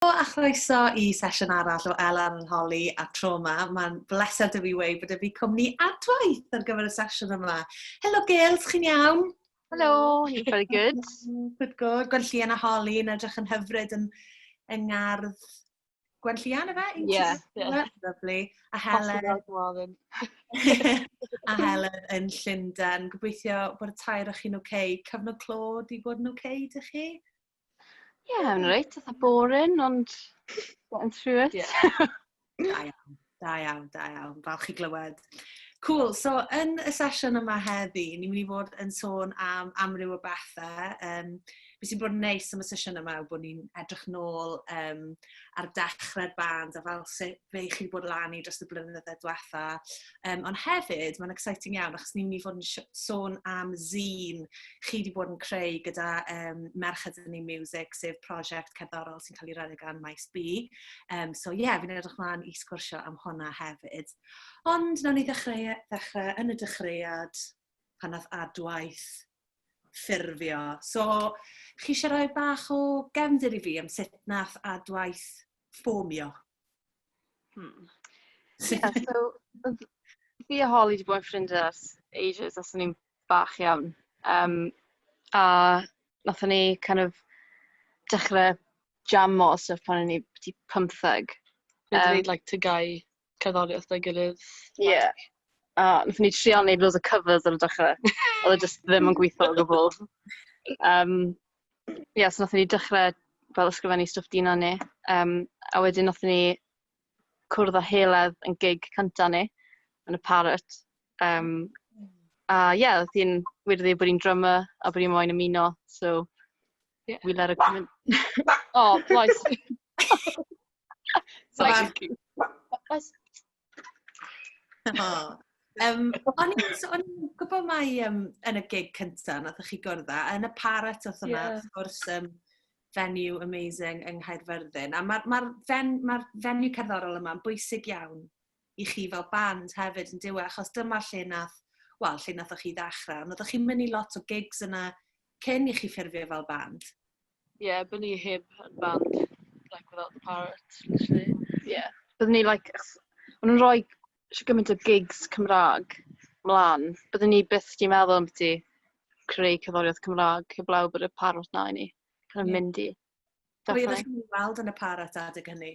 Helo a chroeso i sesiwn arall o El Arholi a Trauma. Mae'n bleser da fi wei bod y fi cwmni adwaith ar gyfer y sesiwn yma. Helo Gail, chi'n iawn? Helo, you're very good. good, good. Gwenllian a Holly yn edrych yn hyfryd yn, yn ngardd Gwenllian, efe? Ie, yeah, yeah. Lovely. A Helen. a Helen yn Llundain. Gobeithio bod y tair o'ch chi'n oce. Okay. Cyfnod clod i bod yn oce, okay, dych chi? Ie, yn reit, eitha boring, ond getting through it. Yeah. da iawn, da iawn, da iawn. Falch i glywed. Cool, so yn y sesiwn yma heddi, ni'n mynd i fod yn sôn am amryw o bethau. Um, be sy'n bod yn neis am y sesiwn yma yw bod ni'n edrych nôl um, ar dechrau'r band a fel sut fe chi wedi bod lan i dros y blynyddoedd diwetha Um, ond hefyd, mae'n exciting iawn, achos ni'n mynd i fod yn sôn am zîn chi wedi bod yn creu gyda um, Merched yn ei Music, sef prosiect cerddorol sy'n cael ei redeg gan Maes B. Um, so ie, yeah, fi'n edrych mlaen i sgwrsio am hwnna hefyd. Ond nawn ni ddechrau, ddechrau yn y dechreuad pan nath adwaith ffurfio. So, chi eisiau rhoi bach o gefndir i fi am sut nath adwaith ffomio. Hmm. Yeah, so, fi a Holly wedi bod yn ffrindiau ers ages, os o'n i'n bach iawn. Um, a nath ni kind of dechrau jamo stuff pan o'n i wedi pymtheg. Dwi'n um, dweud like tygau. cerddoriaeth 'da'i gilydd... Ie. ...a wnaethon ni trio wneud loads o covers ar y dechrau. Oedd e jyst ddim yn gweithio o gwbl. Yym, ie, so wnaethon ni dechrau fel ysgrifennu stwff Dina ni, yym, a wedyn wnaethon ni cwrdd â Heledd yn gig cynta ni, yn y Parrot. Yym, a ie, oedd hi'n weird i ddeud bod hi'n drummer a bod hi moyn ymuno, so we let her come in. O, plais! So Like, oes... Oh. Um, o'n i'n so, gwybod mai um, yn y gig cyntaf na ddech chi gwrdd â, yn y parat oedd hwnna, yeah. wrth gwrs, um, venue amazing yng Nghaerfyrddin. A mae'r ma, fen, ma venue cerddorol yma'n bwysig iawn i chi fel band hefyd yn diwy, achos dyma lle nath, wel, lle nath chi ddechrau, ond oeddech chi'n mynd i lot o gigs yna cyn i chi ffurfio fel band. Ie, byddwn ni heb band like without the parrot literally. Ie. Byddwn ni like achos o'n nhw'n rhoi shwt gymaint o gigs Cymraeg 'mlaen, byddwn ni byth 'di meddwl ambiti creu cerddoriaeth Cymraeg heblaw bod y parrot 'na i ni kind of mynd i. Pwy oeddech chi'n weld yn y parrot adeg hynny?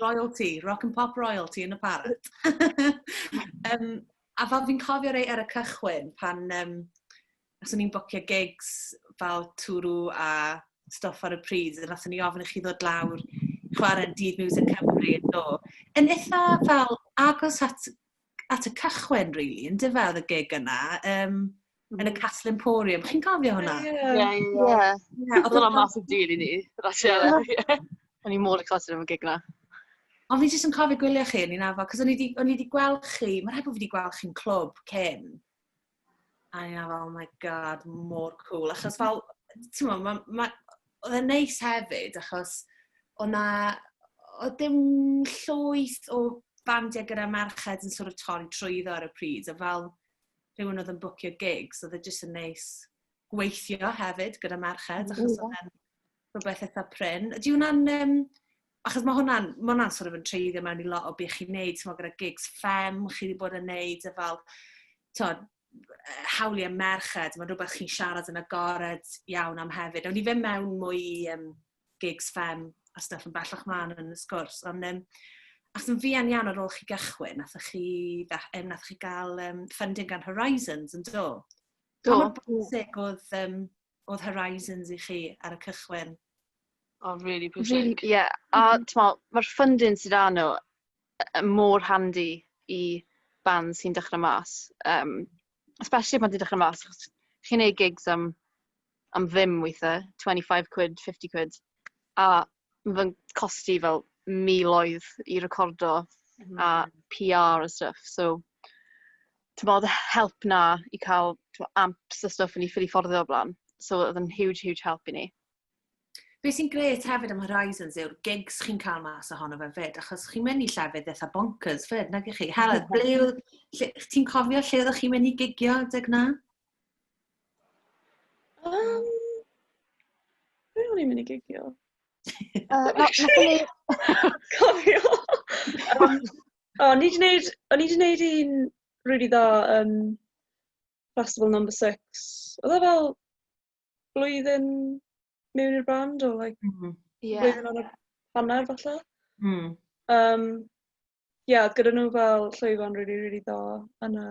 royalty, rock and pop royalty yn y parad. um, a fel fi'n cofio rei ar y cychwyn, pan um, os o'n i'n bocio gigs fel twrw a stoff ar y pryd, a nath o'n i ofyn i chi ddod lawr chwarae'n dydd Music Cymru yn do. Yn eitha fel agos at at y cychwyn, really, yn dyfa, oedd y gig yna, um, mm. yn y Castle Emporium. Chi'n cofio hwnna? Ie, ie. Oedd hwnna mas o dyn i ni, Rachel. O'n i mor excited am y gig yna. Ond fi jyst yn cofio gwylio chi, ni'n afo, cos o'n i wedi gweld chi, mae'n rhaid bod fi wedi gweld chi'n clwb cyn. A o'n i fel oh my God, mor cwl. Achos fel, t'mo, ma' ma' odd e'n neis hefyd achos o' 'na odd dim llwyth o bandiau gyda merched yn sort of torri trwyddo ar y pryd a fel rhywun odd yn bwcio gigs odd e jyst yn neis gweithio hefyd gyda merched, achos mm. hwnna'n rhywbeth eitha prin. Ydy hwnna'n... Um, achos mae hwnna'n ma hwnna sort of yn treiddio mewn i lot o beth chi'n neud, ti'n gyda gigs ffem, chi wedi bod yn neud, a fel, ti'n hawliau merched, mae'n rhywbeth chi'n siarad yn agored iawn am hefyd. Ond i fe mewn mwy um, gigs ffem a stuff yn bellach mlaen yn y sgwrs, ond um, Ac yn fuan iawn ar ôl chi gychwyn, nath chi, nath chi gael um, funding gan Horizons yn do? Do. Pa bwysig oedd, um, oedd Horizons i chi ar y cychwyn? Oh, really pwysig. Really, yeah. A mm-hmm. mae'r funding sydd â nhw mor handi i band sy'n dechrau mas. Um, especially pan ti'n dechrau mas, achos chi'n ei gigs am, am ddim weithiau, 25 quid, 50 quid. A mae'n costi fel miloedd i recordo mm. a PR a stuff. So, timod, help 'na i cael, timod, amps a stwff i ni ffili fforddio o'r blaen. So oedd yn huge, huge help i ni. Be sy'n gret hefyd am Horizons yw'r gigs chi'n cael mas ohono fe fyd, achos chi'n mynd i llefydd eitha bonkers fyd, nag chi? Helen, ble yw... Ti'n cofio lle oeddech chi'n mynd i gigio adeg na? Um, be o'n i'n mynd i gigio? Uh, na, na, cofio! O, o'n i 'di neud o'n i 'di neud un rili dda yn Festival Number Six. Oedd e fel blwyddyn mewn i'r band or like... M-hm. ...ie. ...blwyddyn ar y hanner falle? Hmm. Yym ie oedd gyda nhw fel llwyfan rili rili dda yn y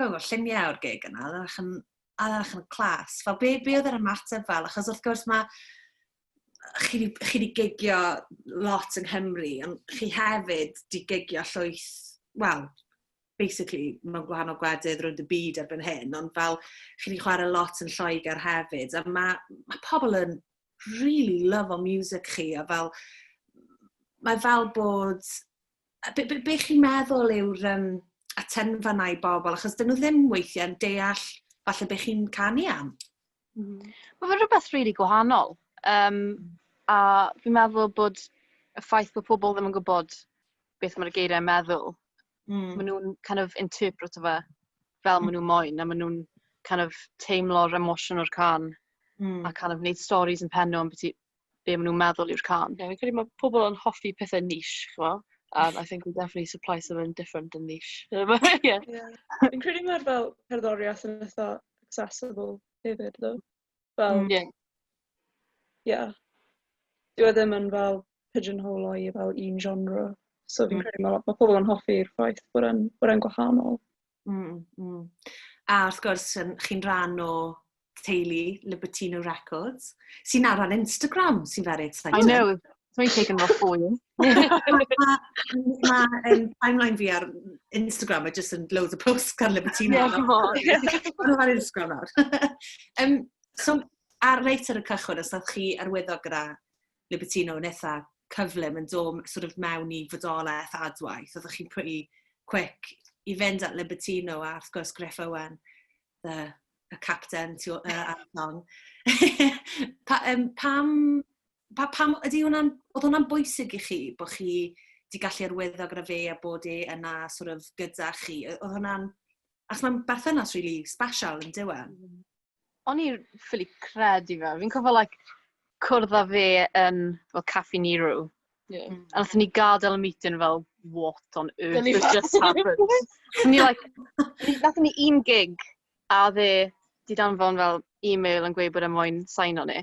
gweld lluniau o'r gig yna, oedd e'n edrych yn clas. Fel, be, be oedd yr ymateb fel? Achos wrth gwrs mae chi wedi gigio lot yng Nghymru, ond chi hefyd wedi gigio llwyth, wel, basically, mae'n gwahanol gwledydd rwy'n dy byd erbyn hyn, ond fel, chi wedi chwarae lot yn Lloegr hefyd, a mae, mae pobl yn really love o music chi, a fel, mae fel bod a be' be' be' chi'n meddwl yw'r yym atenfa 'na i bobl achos 'dyn nhw ddim weithie yn deall falle be' chi'n canu am. Hmm. Ma' fe rwbeth rili really gwahanol Um, a fi'n meddwl bod y ffaith bod pobl ddim yn gwybod beth mae'r geiriau yn meddwl mm. maen nhw'n kind of interpret fe fel mm. maen nhw'n moyn a maen nhw'n kind of teimlo'r emosiwn o'r can mm. a kind of wneud stories yn pen nhw am beth be maen nhw'n meddwl yw'r cân. Ie, fi'n credu mae pobl yn hoffi pethe niche, chimod. And I think we definitely supply something different and niche. Um, yeah. yeah. Fi'n credu mae'r fel cerddoriaeth yn eitha accessible hefyd, ddo. Fel, mm, yeah. yeah. Dwi e ddim yn fel pigeonhole o'i fel un genre. So fi'n mm. credu mae ma pobl yn hoffi'r ffaith bod e'n gwahanol. Mm, mm. A wrth gwrs, chi'n rhan o teulu Libertino Records, sy'n ar ar Instagram, sy'n very exciting. I know, dwi'n taken off for you. Mae timeline fi ar Instagram, mae jyst yn loads o posts gan Libertino. Ie, dwi'n ar Instagram nawr. um, so, ar reit ar y cychwyn, os ydych chi arwyddo gyda Libertino yn eitha cyflym yn do' m- sort of mewn i fodolaeth adwaith. Oeddech chi'n pretty quick i fynd at Libertino a wrth gwrs Griff Owen, the y capten tu ôl yy ar y llong. Pa- yym pam pa- pam ydy hwnna'n... oedd hwnna'n bwysig i chi bod chi 'di gallu arwyddo gyda fe a bod e yna sort of gyda chi? Yy oedd hwnna'n... Achos mae'n berthynas rili sbesial yndyw e? o'n i ffili credu fe. Fi'n cofio like cwrdd â fe yn fel Caffi Nero. Yeah. Mm. A nath ni gadael y meeting fel, what on earth has just happened? so ni like, nath ni un gig a dde di danfon fel e-mail yn gweud bod e moyn sain o'n e.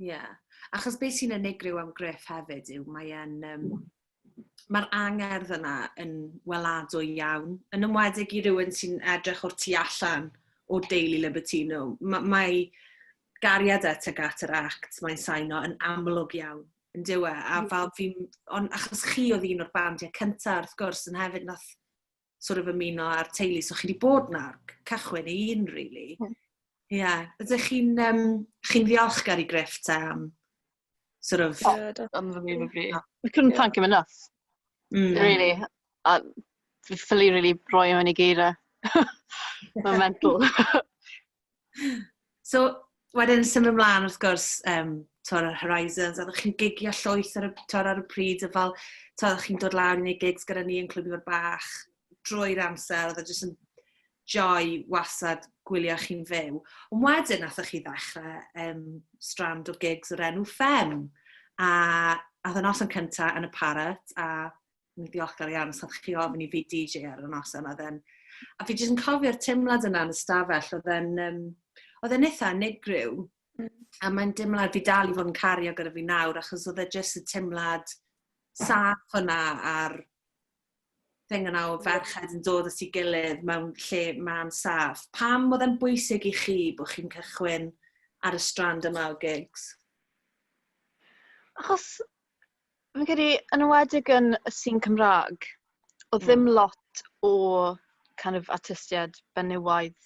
Ie. Yeah. Achos beth sy'n unigryw am Griff hefyd yw mae e'n... Um, Mae'r angerdd yna yn weladwy iawn, yn ymwedig i rywun sy'n edrych o'r tu allan o deulu Libertino. Mae, mae gariad at ag at yr act, mae'n saino yn amlwg iawn yn dywe, a fel fi, ond achos chi oedd un o'r bandiau cyntaf, wrth gwrs, yn hefyd nath sort of ymuno â'r teulu. So chi wedi bod na o'r cychwyn i un, really. Hmm. Ie. Yeah. Ydych chi'n um, chi ddiolchgar i Griff te am sort of... Yeah, that's unbelievably. We couldn't yeah. thank him enough. Mm. Really. A fi ffili really roi mewn i geirau. Mae'n mental. So, wedyn symud mlaen wrth gwrs, um, tor yr Horizons, a chi'n gigio llwyth ar y, tor ar y pryd, y fel, tor chi'n dod lawr i wneud gigs gyda ni yn Clwb Ifor Bach, drwy'r amser, oedd e jyst yn joy wasad gwylio chi'n fyw. Ond wedyn, athoch chi ddechrau um, strand o gigs o'r enw Fem, a oedd y noson cyntaf yn y Parrot, a yn ddiolchgar iawn os ydych chi ofyn i fi DJ ar y nos yma. Then. A fi jyst yn cofio'r teimlad yna yn y stafell, oedd e'n um, oedd e'n eitha unigryw. Mm. A mae'n dimlad fi dal i fod yn cario gyda fi nawr, achos oedd e jyst y teimlad saff yna a'r thing yna o ferched yn dod at ei gilydd mewn lle ma'n saff. Pam oedd e'n bwysig i chi bod chi'n cychwyn ar y strand yma o gigs? Achos Fi'n credu, yn enwedig yn y scene Cymraeg, oedd ddim lot o kind of artistiaid benywaidd,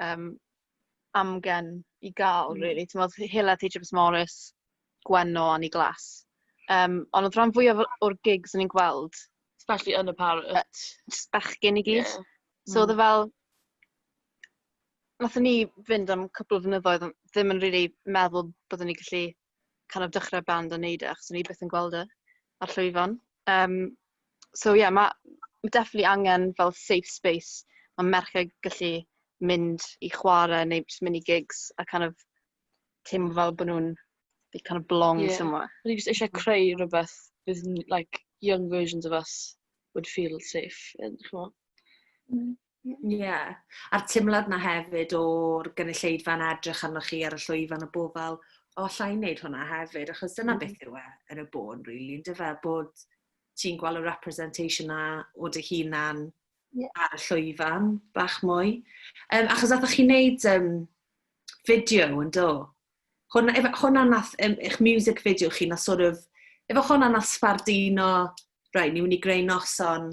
yym, amgen i gael rili. Timod, oedd Hela, Theatr Morris, Gwenno, Annie Glass. Yym, ond oedd rhan fwyaf o- o'r gigs o'n i'n gweld, Especially yn y Parrot. jyst bechgyn i gyd. Ie. So oedd e fel... Wnaethon ni fynd am cwpl o flynyddoedd, ond ddim yn rili meddwl byddwn ni'n gallu kind of dechrau band a wneud e, achos o'n i byth yn gweld e ar llwyfan. Yym, so ie, ma' ma' definitely angen fel safe space ma' merched gallu mynd i chwarae neu jyst mynd i gigs a kind of teimlo fel bod nhw'n, they kind of belong... Ie. ...somewhere. O'n i jyst isie creu rywbeth fydd n- like young versions of us would feel safe in chimod? Ie. A'r timlad 'na hefyd o'r gynulleidfa yn edrych arnoch chi ar y llwyfan a bo' fel o alla i neud hwnna hefyd achos dyna beth yw e yn y bôn rili yndyfe bod ti'n gweld y representation 'na o dy hunan Ie. ar y llwyfan bach mwy. Yym achos athoch chi neud yym fideo yndo? Hwn efe hwnna nath yym eich music video chi nath sort of efo hwnna nath sbarduno reit ni myn' i greu noson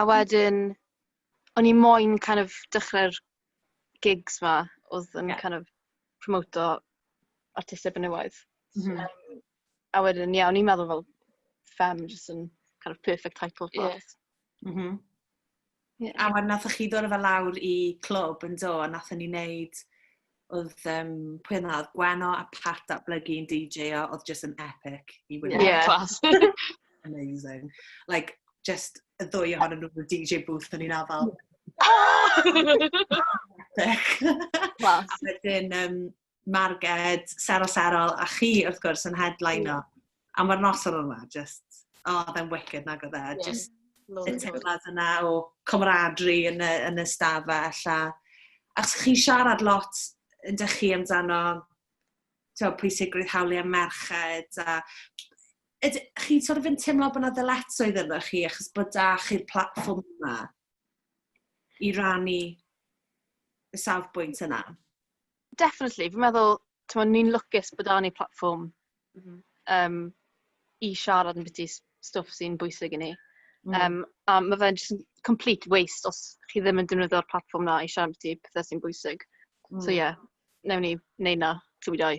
A wedyn, o'n i moyn kind of dechrau'r gigs 'ma oedd yn... ie... kind of promoto artistiaid menywaidd... m-hm... yym, a wedyn, ie, o'n i'n meddwl fel femme jyst yn kind of perfect title for it... ie, m-hm... ie. ...a wedyn wnaethoch chi ddod â fe lawr i clwb, yn do, a wnaethon ni wneud Oedd um, pwy yna, oedd Gweno a Pat datblygu yn DJ o, oedd just yn epic i wylio. Yeah, class. Amazing. Like, just y ddwy ohonyn nhw'n DJ booth yn un afal. Class. a wedyn, um, Marged, Sero Serol, a chi, wrth gwrs, yn headliner. A mae'r noson yma jyst, o oedd e'n wicked nag oedd e? Jyst y teimlad yna o camaraderie yn y, yn y stafell a achos chi'n siarad lot yn dych chi amdano tywed, pwysigrwydd hawliau merched a yd, chi'n sort of yn teimlo bod yna ddyletswydd yna chi achos bod da chi'r platform yma i rannu y safbwynt yna? Definitely. Fi'n meddwl, timod, ni'n lwcus bod 'da ni platfform... M-hm. ...yym, i siarad ambiti s- stwff sy'n bwysig i ni. M-hm. Yym, a ma' fe'n jyst yn complete waste os chi ddim yn defnyddio'r platfform 'na i siarad ambiti pethe sy'n bwysig. M-hm. So ie, wnawn ni wneud 'na, trwy dau.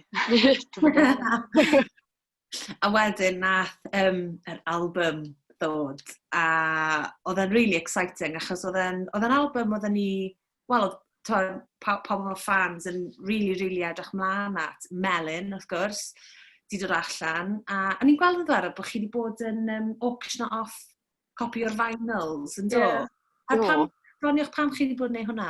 A wedyn nath yym yr albym ddod a odd e'n rili exciting achos odd e'n odd e'n albym odden ni wel odd t'mod paw- pawb o fy ffans yn rili rili edrych mlan at. Melin wrth gwrs 'di dod allan a o'n i'n gweld ddiddorol bo' chi 'di bod yn yym auctiono off copi o'r vinyls yndo? Ie. A pam... Do. ...doniwch pam chi 'di bod yn neu' hwnna?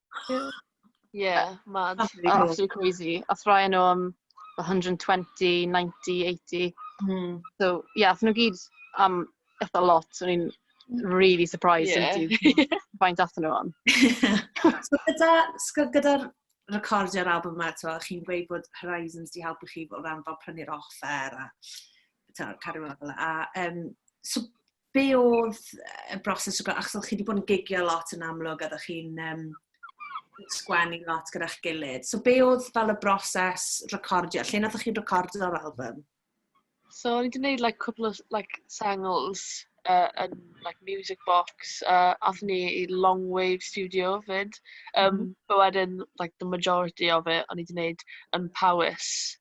Yeah, mad. Absolutely crazy. Aeth rhai o nhw am 120, 90, 80. Mm. So, ie, yeah, aethon nhw gyd am eitha lot. So, ni'n really surprised yeah. into faint athyn nhw am. so, gyda, gyda recordio'r album yma, to, chi'n gweud bod Horizons di helpu chi o ran fel prynu'r offer a to, cario fel a um, so, be oedd y broses o gael, achos o'ch chi wedi bod yn gigio lot yn amlwg, a o'ch chi'n um, sgwennu lot gyda'ch gilydd. So be oedd fel y broses recordio? Lle nath chi'n recordio'r album? So o'n i wedi gwneud like, cwpl o like, sengls uh, yn like, Music Box, uh, athyn ni i Long Wave Studio fyd. Um, mm -hmm. But wedyn, like, the majority of it, o'n i wedi gwneud yn Powys.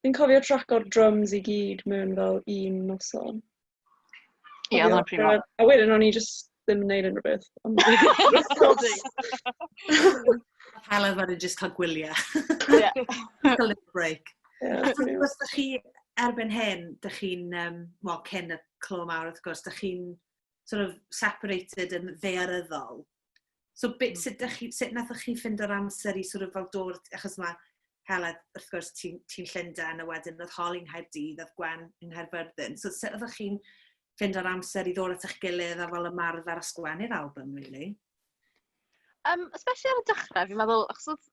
Fi'n cofio traco'r drums i gyd mewn fel un noson. Ie, oedd o'n pryd mawr. A wedyn o'n i jyst ddim yn neud unrhyw beth. Ond Helen fan yn just cael gwyliau. Yeah. a little break. Yeah, a ti'n gwrs, chi, erbyn hyn, dych chi'n, um, well, cyn y clo mawr wrth gwrs, dych chi'n sort of separated yn ddearyddol So be, hmm. sut, chi, sut nathoch chi ffind o'r amser i sort of fel dod, achos mae Hela, wrth gwrs, ti'n ti Llundain, a wedyn oedd Hol yng Nghaerdydd, oedd Gwen yng Nghaerfyrddin. So sut oeddech chi'n ffind o'r amser i ddod at eich gilydd a fel ymarfer a sgwennu'r album, really? Um, especially ar y dechrau, fi'n meddwl, achos oedd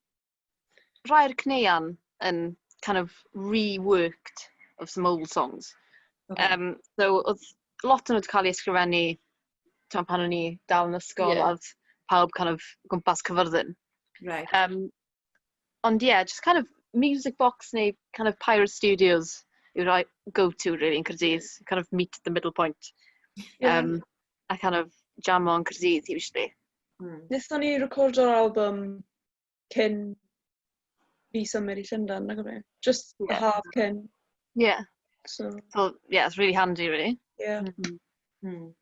rhai o'r caneuon yn kind of reworked of some old songs. Okay. Um, so, oedd lot o'n nhw wedi cael ei ysgrifennu tan pan o'n i dal yn ysgol, yeah. oedd pawb kind of gwmpas cyfyrddin. Right. Um, ond ie, yeah, just kind of music box neu kind of Pirate Studios yw rhoi go-to really yn Cyrdydd, kind of meet the middle point. Yeah. Um, a kind of jam on Cyrdydd usually. Mm. Nethon ni recordo'r album cyn fi symud i Llundain nag yfe? Jyst y yeah. haf cyn. Yeah. So. so, yeah, it's really handy, really. Yeah. Mm -hmm. mm.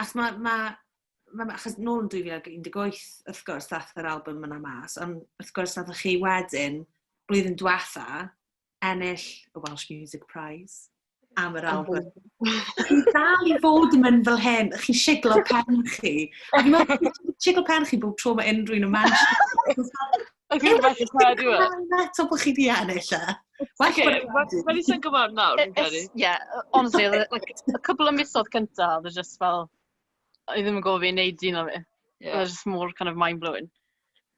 Achos mae, ma, ma, achos nôl yn 2018, wrth gwrs, ddath yr album yna mas, ond wrth gwrs, nath chi wedyn, blwyddyn diwetha, ennill y Welsh Music Prize am yr album. Chi dal i fod yn mynd fel hyn, chi siglo pen chi. A fi'n meddwl, siglo pen chi bob tro mae unrhyw un yn mention. A fi'n fath yn cael diwa. Eto bod chi di ennill e. Wel, i sy'n gwybod nawr, fi'n credu. Ie, honestly, like, a couple of misodd cyntaf, oedd e just fel, i ddim yn gofio i wneud un o fi. Oedd e just more kind of mind-blowing.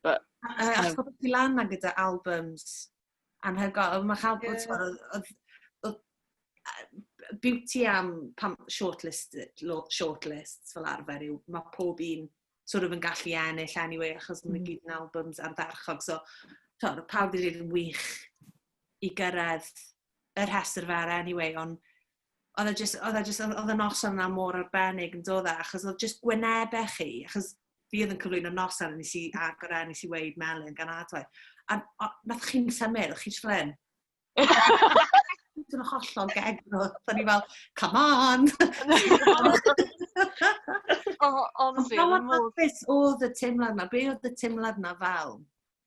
But, uh, a chod ti lan gyda albums Anhygoel on' ma' cha'l bod t'mod odd odd odd yy beauty am pan short listed lo- short lists fel arfer yw ma' pob un sort of yn gallu ennill anyway achos ma' nw gyd yn albums ardderchog so t'od odd pawb 'di deud yn wych i gyrredd y rhestr fer anyway on' oedd e jyst, oedd e jyst, oedd y noson yna mor arbennig yn dod e, achos oedd jyst gwynebau chi, achos fi oedd yn cyflwyno noson, nes i agor e, nes i weid melyn gan adwaith. A nath chi'n symud, o'ch chi jyst fel Dwi'n hollol gegro. Da ni fel, come on! oh, honestly, oedd y teimlad yna. Be oedd y teimlad yna fel?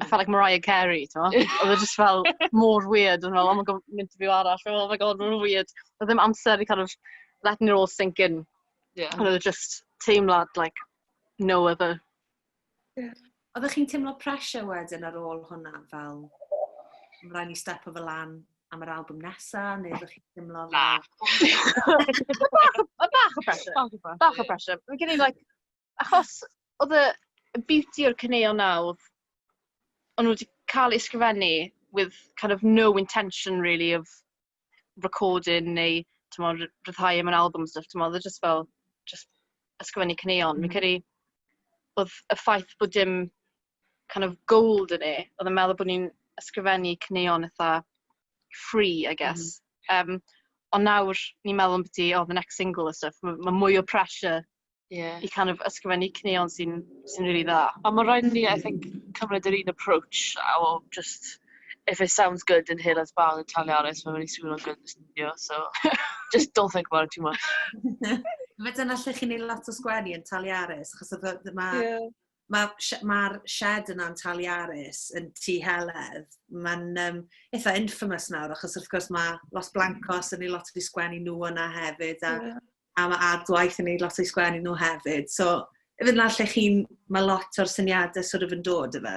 I felt like Mariah Carey, timod? Oedd e jyst fel mor weird, o'n i'n meddwl, oh my God, mae'n interview arall, oh my God, mae'n weird. Oedd dim amser i kind of letting it all sink in. Ie. Ond oedd e jyst teimlad like no other. Oeddech chi'n teimlo pressure wedyn ar ôl hwnna fel, mae'n rhaid ni step o fel lan am yr album nesa, neu oeddech chi'n teimlo fel... Bach o pressure. Bach o pressure. Fi'n credu, like, Achos odd y y beauty o'r caneuon 'na odd o'n nw 'di ca'l eu sgrifennu with kind of no intention really of recording neu t'mod ry- ryddhau e mewn albwm a stwff t'mod o'dd e jyst fel jyst ysgrifennu caneuon. Fi'n credu odd y ffaith bod dim kind of goal 'da ni odd yn meddwl bo' ni'n ysgrifennu caneuon itha free I guess. Yym ond nawr ni'n meddwl ambyti o the next single a stwff ma' ma' mwy o pressure Ie. ...i kind of ysgrifennu caneuon sy'n sy'n rili dda. Ond ma' raid i ni, I think, cymryd yr un approach a o jyst, if it sounds good in Helen's Barn yn Taliaris, mae'n mynd i swnio'n good yn y stiwdio, so just don't think about it too much. Ife dyna lle chi'n wneud lot o sgwennu, yn Taliaris? Achos oedd o... ma'... Ie. Mae'r sh- mae'r shed yna yn Taliaris, yn Tŷ Heledd. Mae'n um, eitha infamous nawr, achos wrth gwrs mae Los Blancos yn ei lot wedi sgwennu nhw yna hefyd, a, yeah. a mae Ardwaith yn ei lot wedi sgwennu nhw hefyd. So, efo yna lle chi'n, mae lot o'r syniadau sort of yn dod, efo.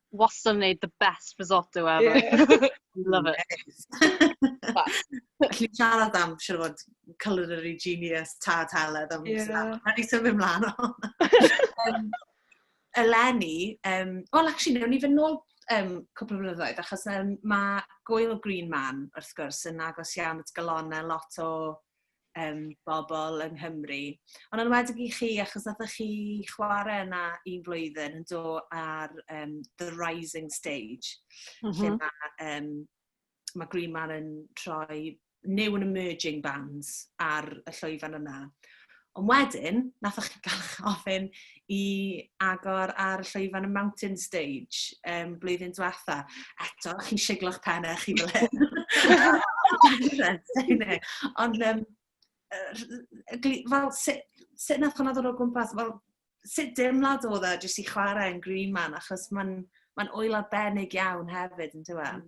wastad yn wneud the best risotto ever. Yeah. Love it. Felly siarad am, siarad fod, culinary genius, tad heledd am yeah. Rhaid i ni symud ymlaen o hwnna. eleni, um, well, actually, newn ni fy nôl um, cwpl o flynyddoedd, achos um, mae Gwyl Green Man, wrth gwrs, yn agos iawn at galonau lot o um, bobl yng Nghymru. Ond yn wedi i chi, achos nath chi chwarae yna un flwyddyn yn do ar um, The Rising Stage, mm -hmm. lle mhm. mae um, ma Green Man yn troi new and emerging bands ar y llwyfan yna. Ond wedyn, nath o'ch gael ofyn i agor ar y llwyfan y Mountain Stage um, blwyddyn diwetha. Eto, chi'n siglo'ch pennau chi fel hyn. Ond, um, fel, sut, sut nath hwnna ddod o gwmpas? Fel, sut deimlad oedd e jyst i chwarae yn Green Man, achos mae'n ma oel arbennig iawn hefyd, yn dweud?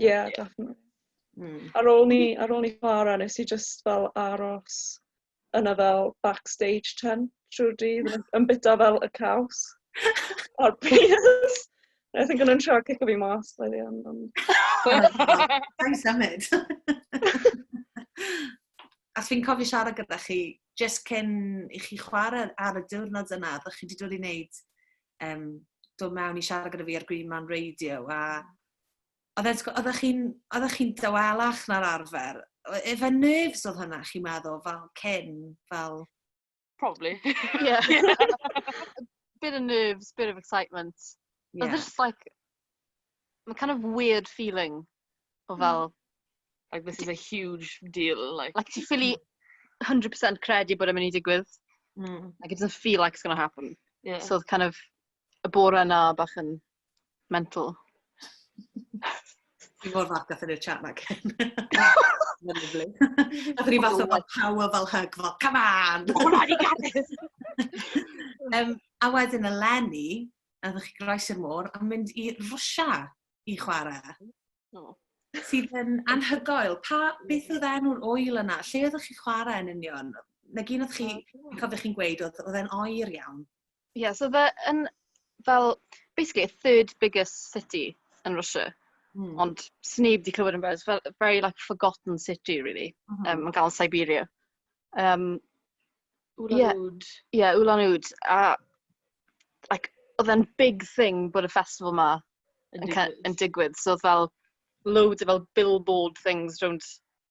Ie, definitely. Mm. Ar ôl ni, ar ôl ni chwarae, nes i just fel aros yna fel backstage tent trwy'r dydd, yn- yn bita fel y caws a'r peas. I think o'n nhw'n trio cico fi mas by the end. Ond... Sa'n symud. As fi'n cofio siarad gyda chi, just cyn i chi chwarae ar y diwrnod yna, ddech chi wedi dod i wneud, um, dod mewn i siarad gyda fi ar Green Man Radio, a oedd e'n tgwbod, oeddech chi'n, oeddech chi'n dawelach na'r arfer. Oedd e fe'n nerves oedd hwnna chi'n meddwl fel cyn, fel... Probably. Ie. Bit of nerves, bit of excitement. Ie. Odd e jyst like ma' kind of weird feeling o fel... Hmm. Like this is a huge deal like... Like ti ffili hundred percent credu bod e'n mynd i digwydd. Hmm. Like it doesn't feel like it's gonna happen. Ie. So odd kind of y bore 'na bach yn mental. Fi mor falch gath ni'r chat na cyn. Lyfli. Gath ni fath o fel power fel hug fel, come on! O, na, ni gadis! um, a wedyn y Lenny, a ddech chi groes i'r môr, a mynd i Rwysia i chwarae. Oh. Sydd yn anhygoel. Pa, beth oedd enw'r oil yna? Lle oeddech chi chwarae yn union? Na gyn oedd chi, cofio chi'n gweud, oedd e'n oer iawn? Ie, so oedd e yn fel basically y third biggest city yn Russia. Mm. Ond sneb di clywed amdano. It's fel a very like forgotten city really. Mm -hmm. um, yn ganol Siberia. Um, Ulan yeah, Ud. Yeah, Ulan Ud. A like, oedd e'n big thing bod y festival ma yn, yn, digwydd. yn digwydd. So oedd fel loads of fel billboard things rownd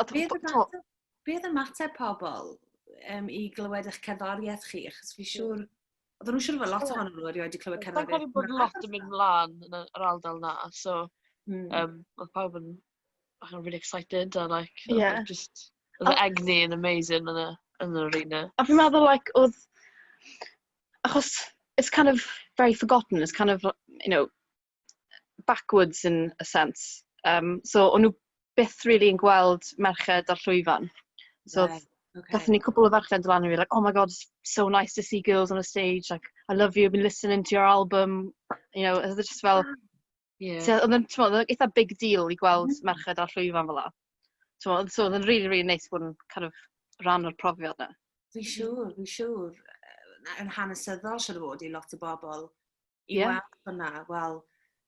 Ond be oedd y be oedd ymateb pobl um, i glywed eich cerddoriaeth chi? Achos fi siŵr... Oedden nhw'n siŵr fod lot ohono nhw erioed wedi clywed cerddoriaeth. Mae'n bod lot yn mynd mlaen yn yr ardal na, so mm. um, oedd pawb yn bach yn really excited a like, yeah. just, oedd oh. egni yn amazing yn y, yn yr arena. A fi'n meddwl, like, oedd, achos, it's kind of very forgotten, it's kind of, you know, backwards in a sense. Yym, so o'n nhw byth rili'n gweld merched ar llwyfan. So oedd... Reit, ocê. ...gaethon ni cwpl o ferched yn dod lan a fi like, "Oh my god, it's so nice to see girls on a stage, like, I love you, I've been listening to your album." You know, oedd e jyst fel... Waw! Ie. ...so oedd e'n, timod, oedd e'n eitha big deal i gweld... M-hm. ...merched ar llwyfan fela. Timod, so oedd e'n rili, rili neis bod yn kind of rhan o'r profiad 'na. Fi'n siŵr, fi'n siŵr. Yy, yn hanesyddol siŵr o fod i lot o bobl i yeah. weld hwnna, wel,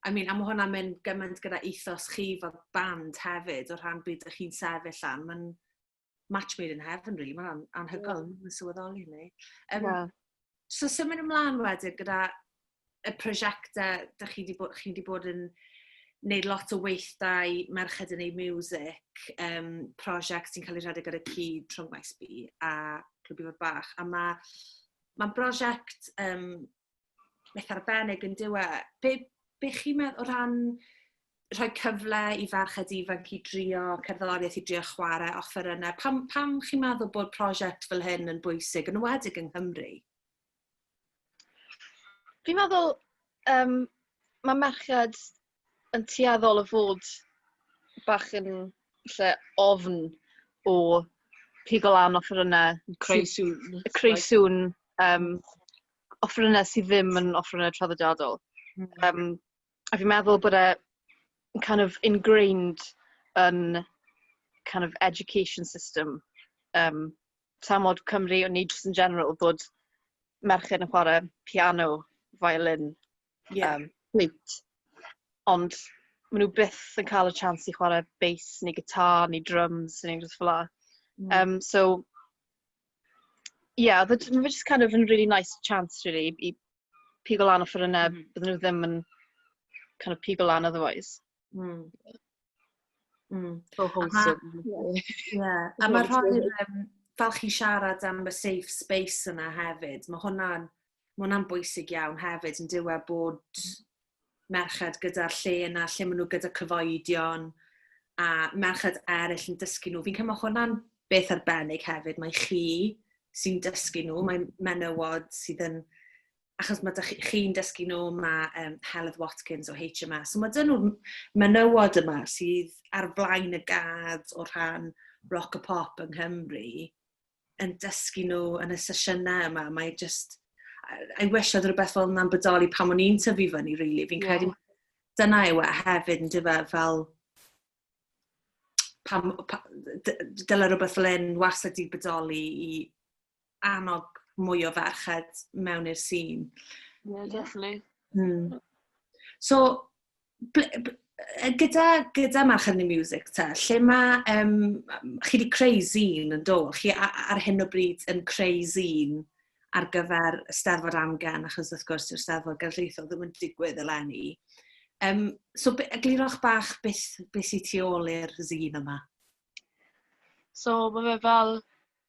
I mean, a mae hwnna'n mynd gymaint gyda ethos chi fel band hefyd, o rhan byd ych chi'n sefyll lan, mae'n match made in heaven, really, mae'n anhygoel, yeah. mae'n sylweddoli ni. Um, yeah. So symud ymlaen wedyn gyda y prosiectau, da chi wedi bod, chi wedi bod yn wneud lot o weithdai merched yn ei music, um, prosiect sy'n cael ei rhedeg ar y cyd trwy Maes B a Clwb Ifor Bach. A mae ma brosiect um, beth arbennig yn dyw e. Be, be chi'n meddwl o ran rhoi cyfle i farched ifanc i drio cerddoriaeth, i drio chwarae offerynnau? Pam, pam chi'n meddwl bod prosiect fel hyn yn bwysig, yn wedig yng Nghymru? Fi'n meddwl, um, mae merched yn tueddol o fod bach yn falle ofn o pigo lan offerynnau... Creu sŵn. ...creu sŵn, yym, offerynnau sydd ddim yn offerynnau traddodiadol. Mm. Yym, a fi'n meddwl bod e yn kind of ingrained yn kind of education system, yym, tramor Cymru, neu jyst yn general, bod merched yn chwarae piano, violin. Ie. Yym, fflwt. Ond maen nhw byth yn cael y chance i chwarae beis neu gitar neu dryms neu unrhyw beth fel 'na. Mm. Yym, so ie, oedd e j- ma' fe jyst kind of yn rili neis chance rili i pigo lan offerynnau... M-hm. ...bydden nhw ddim yn kind of pigo lan otherwise. Mm. Mm. So wholesome. Ie. A mae rhoi um, fel chi siarad am y safe space yna hefyd, mae hwnna'n ma hwnna bwysig iawn hefyd yn diwe bod merched gyda'r lle yna, lle maen nhw gyda cyfoedion a merched eraill yn dysgu nhw. Fi'n cael mae hwnna'n beth arbennig hefyd. Mae chi sy'n dysgu nhw, mae menywod sydd yn achos mae chi, chi'n dysgu nhw, mae um, Heledd Watkins o HMA. So mae dyn nhw'r menywod yma sydd ar flaen y gad o rhan rock a pop yng Nghymru yn dysgu nhw yn y sesiynau yma. Mae just... I wish oedd rhywbeth fel yna'n bodoli pan o'n i'n tyfu fyny, really. Fi'n yeah. credu dyna yw e hefyd yn dyfa fel pam, pa, dyla rhywbeth fel un wastad di bodoli i annog mwy o ferched mewn i'r sîn. Yeah, definitely. Mm. So, gyda, gyda March yn y Music ta, lle mae, um, chi wedi creu zine yn do, chi ar hyn o bryd yn creu zine ar gyfer y Steddfod Amgen, achos wrth gwrs yw'r Steddfod Gerllaethol ddim yn digwydd eleni. Um, so, eglurwch bach beth, beth sy'n tu ôl i'r zine yma. So, mae fe fel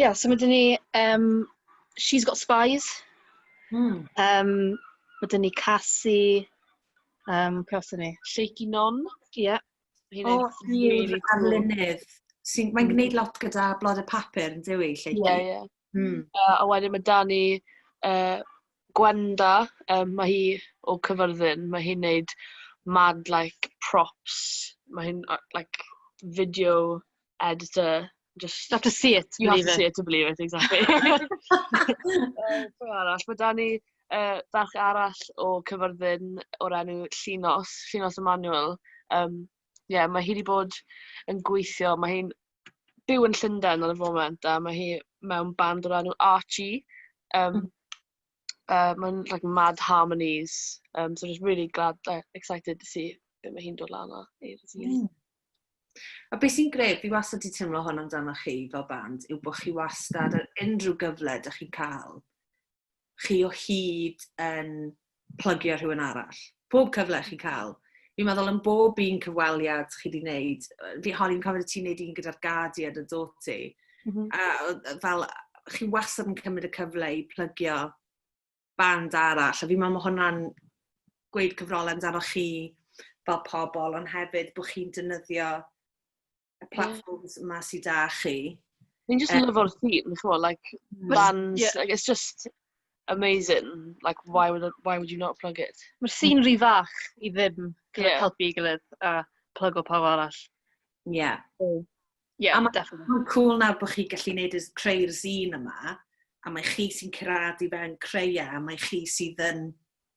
Ia, so ma' 'da ni yym She's Got Spies... Mm. ...yym, ma' 'da ni Casi, yym, pwy arall 'da ni? Shaky Non. Ia. Ma' hynna'n rili cŵl. O ie rili cŵl. Arlunydd sy'n mae'n gwneud lot gyda Blodau Papur yndyw hi, Shaky? Ie ie. Hmm. Yy a wedyn ma' 'da ni yy Gwenda yym ma' hi o Caerfyrddin, ma' hi'n wneud mad like props, ma' hi'n yy like video editor, jyst... Have to see it to believe it. ...you have to see it to believe it exactly. Yy pwy arall? Ma' 'da ni, yy, ferch arall o Caerfyrddin o'r enw Llinos, Llinos Emanuel. Yym, ie, ma' hi 'di bod yn gweithio, ma' hi'n byw yn Llundain ar y foment, a mae hi mewn band o'r enw Archie. Yym, yy, mae'n like mad harmonies. Yym, so just really glad, uh, excited to see be mae hi'n dod lan o. Mm. A beth sy'n greu, fi wastad wedi teimlo hwn amdano chi fel band, yw bod chi wastad ar unrhyw gyfle da chi'n cael, chi o hyd yn plygio rhywun arall. Pob cyfle chi'n cael. Fi'n meddwl yn bob un cyfweliad chi wedi wneud, fi holi'n cofio ti'n gwneud un gyda'r Guardian yn dod ti. Mm -hmm. A fel, chi wastad yn cymryd y cyfle i plygio band arall. A fi'n meddwl mae hwnna'n gweud cyfrolau amdano chi fel pobl, ond hefyd bod chi'n dynyddio y platforms yeah. yma sydd da chi. Ni'n just um, lyfo'r theme, chwa, like, bands, yeah. like, it's just amazing. Like, why would, why would you not plug it? Mae'r sy'n rhy fach i ddim yeah. helpu i gilydd a plug o pawb arall. Yeah. So, yeah, a definitely. Mae'n cool nawr bod chi gallu gwneud y creu'r zine yma, a mae chi sy'n cyrraedd i fewn creu e, a mae chi sydd yn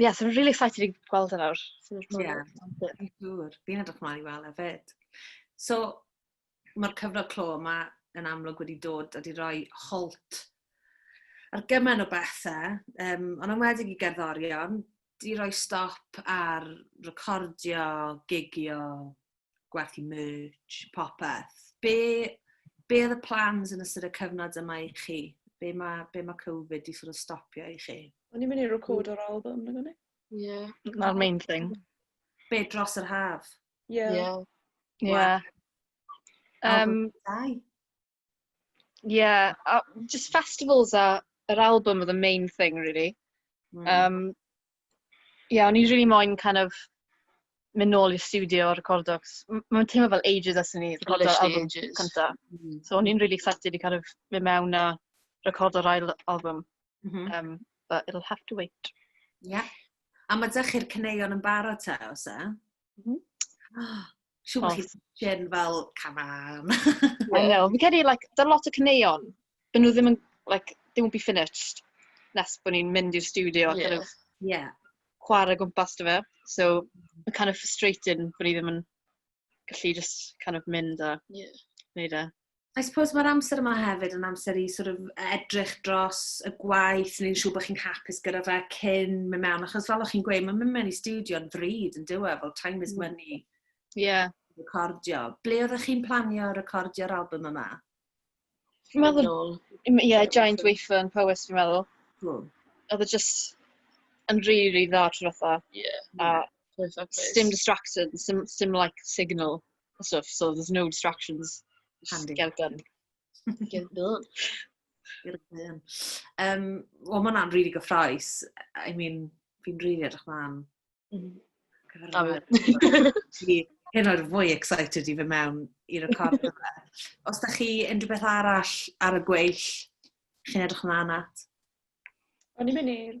Ie, so rili excited i gweld e nawr. Ie, yn siŵr. Fi'n edrych mlaen i weld e fyd. So, mae'r cyfnod clo yma yn amlwg wedi dod a di roi holt ar gymaint o bethau, um, ond am wedi i gerddorion, di roi stop ar recordio, gigio, gwerthu merch, popeth. Be, be oedd y plans yn ystod y cyfnod yma i chi? Be mae, be mae Covid i sort of stopio i chi? O'n i'n mynd i record o'r album, nag o'n i? Ie. Na'r main thing. Be dros yr haf? Ie. Ie. Ie. Um, Ie, a jyst festivals a yr album oedd y main thing rili. Mm. Yym, ie, o'n i rili moyn kind of mynd nôl i'r stiwdio a recordo, 'c'os m- mae'n teimlo fel ages ers i ni recordo'r Literally album ages. cynta. Mm. So o'n i'n rili excited i kind of mynd mewn a recordo'r ail album, Mhm. yym, but it'll have to wait. Ie. A mae dych chi'r caneuon yn barod te, os e? Mm -hmm. Siw bod chi'n gen fel cafan. I know. Fi'n credu, like, da lot o cyneuon, byd nhw ddim yn, like, they won't be finished nes bod ni'n mynd i'r studio yeah. kind of yeah. chwarae gwmpas dy fe. So, mae'n kind of frustrating bod ni ddim yn gallu just kind of mynd a yeah. wneud e. I suppose mae'r amser yma hefyd yn amser i sort of edrych dros y gwaith, ni'n siŵr bod chi'n hapus gyda fe cyn mynd mewn, achos fel o'ch chi'n gweud, mae'n mynd mewn i studio yn ddrud yn diwy, e, fel time is mm. money. Ie. Yeah. Recordio. Ble oeddech chi'n planio recordio'r album yma? Fi'n meddwl, ie, yeah, Giant Wafer yn Powys, fi'n meddwl. Hmm. Oedd e just yn rhi, rhi dda trwy fatha. Ie. A dim distracted, dim, dim like signal. and stuff, so there's no distractions. Handy. Just get done. get done. Um, Wel, mae hwnna'n really gyffroes. I mean, fi'n really edrych mlaen. Mm. Hyn o'r fwy excited i fy mewn i record yma. Os da chi unrhyw beth arall ar y gweill, chi'n edrych mlaen at? O'n i'n mynd i'r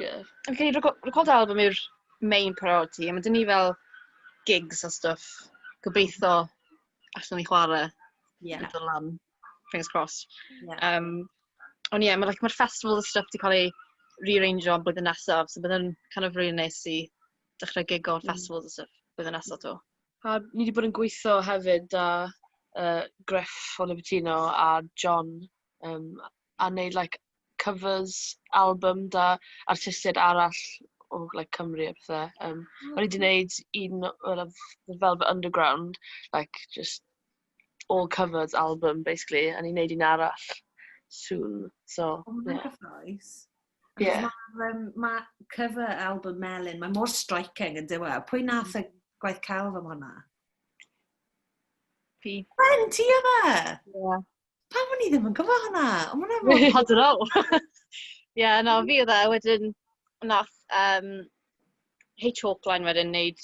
Ie. Fi'n credu reco- recordio albym yw'r main priority, a ma' 'da ni fel gigs a stwff, gobeitho allwn ni chwarae... Ie. ...yn dod lan, fingers crossed. Ie. Yym, ond ie, ma' like, ma'r festivals a stwff 'di cael eu riaranjo am blwyddyn nesaf, so bydd e'n kind of rili neis i dechrau gigo ar festivals a stwff blwyddyn nesa 'to. A ni 'di bod yn gweithio hefyd 'da yy Gruff o Libertino a John yym a wneud like covers album 'da artistiaid arall o like Cymru a pethe. Yym... o ocê. ...o'n i 'di wneud un oedd ef- The Velvet Underground like jyst all covers album basically a o'n i'n wneud un arall soon, so ie. O ma' hwnna'n cyffrous. Ie. Achos ma'r yym ma' cover album Melin, mae mor striking yn dyw e. Pwy nath y gwaith celf am hwnna? Fi. Wen, ti oedd e? Ie. pam o'n i ddim yn gwybod hwnna? O, ma' hwnna mor hot yn ôl. Ie, na, fi oedd e, wedyn, nath um, Hey Chalkline wedyn wneud,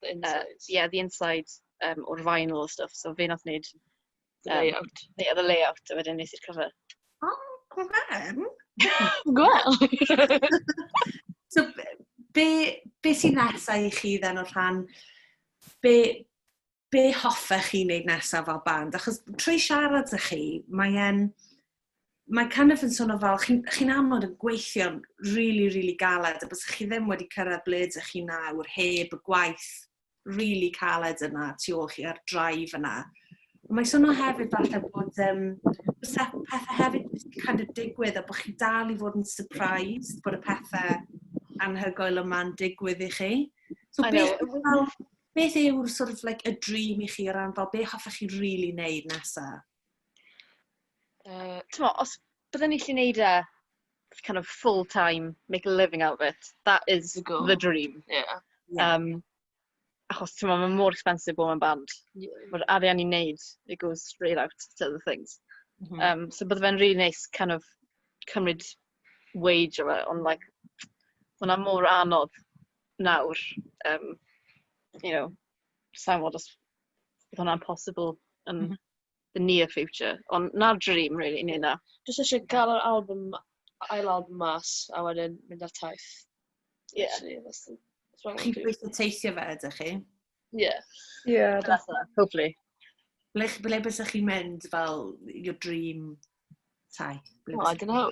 ie, uh, yeah, the inside um, o'r vinyl o stuff, so fe nath wneud um, the layout. Ie, yeah, the layout, a wedyn nes i'r cover. O, oh, gwefan. Gwel. so, be, be sy'n nesau i chi dden o'r rhan? Be, be hoffech chi wneud nesaf fel band? Achos trwy siarad â chi, mae e'n... Mae kind of yn swnio fel, chi'n chi amod yn gweithio'n rili, really, rili really galed, a bys chi ddim wedi cyrraedd ble ydych chi nawr heb y gwaith rili really caled yna tu ôl chi a'r drive yna. Ond mae swnio hefyd falle bod um, pethau hefyd wedi kind of digwydd a bod chi dal i fod yn surprised bod y pethau anhygoel yma'n digwydd i chi. So, beth, fel, beth yw'r sort of like y dream i chi o ran fel be hoffech chi really neud nesa? Uh, T'mo, os byddwn ni lli neud e kind of full time, make a living out of it, that is the, goal. the dream. Yeah. yeah. Um, achos ti'n meddwl, mae mor expensive bod mewn band. Yeah. Mae'r arian i'n neud, it goes straight out to other things. Mm -hmm. um, so bydde fe'n really nice kind of cymryd wage o fe, ond like, hwnna mor anodd nawr yym you know sa i'n gwbod os bydd hwnna'n possible yn the near future ond 'na'r dream rili wneud 'na. Jyst isie cael yr albym ma- ail albym mas a wedyn mynd ar taith. Ie. Chi'n gweithio teithio fe ydych chi? Ie. Ie. Hopefully. Ble, ble bys chi'n mynd fel your dream taith? Ble oh, I don't know.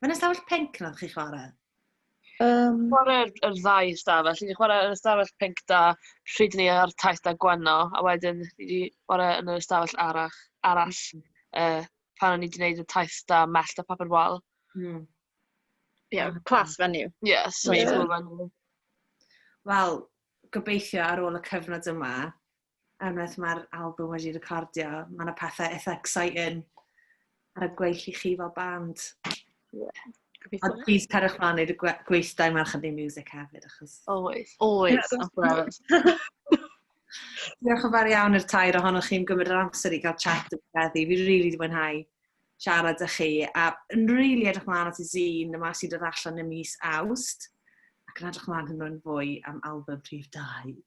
Mae'n ystafell pink na chi'n chwarae? Um... Chwarae'r er ddau ystafell. Ni wedi chwarae yn ystafell pink da pryd ni ar taith da gwenno, a wedyn ni wedi chwarae yn yr ystafell arach, arall uh, pan o'n i wedi gwneud y taith da mellt a papur wal. Mm. Yeah, class venue. Yeah, so yeah. venue. Wel, gobeithio ar ôl y cyfnod yma, unwaith mae'r album wedi recordio, mae yna pethau eitha exciting ar y gweill i chi fel band. Yeah. A please cerwch mlaen wneud y gwe gweithdai mae'r chydig music hefyd, achos... Oes. Oes, of course. Diolch yn fawr iawn i'r tair ohonoch chi'n gymryd yr amser i gael chat yn feddi. Fi rili really wedi mwynhau siarad â chi, a yn rili really edrych mlaen at y zine yma sy'n dod allan y mis awst, ac yn edrych mlaen hwnnw'n fwy am album prif dau.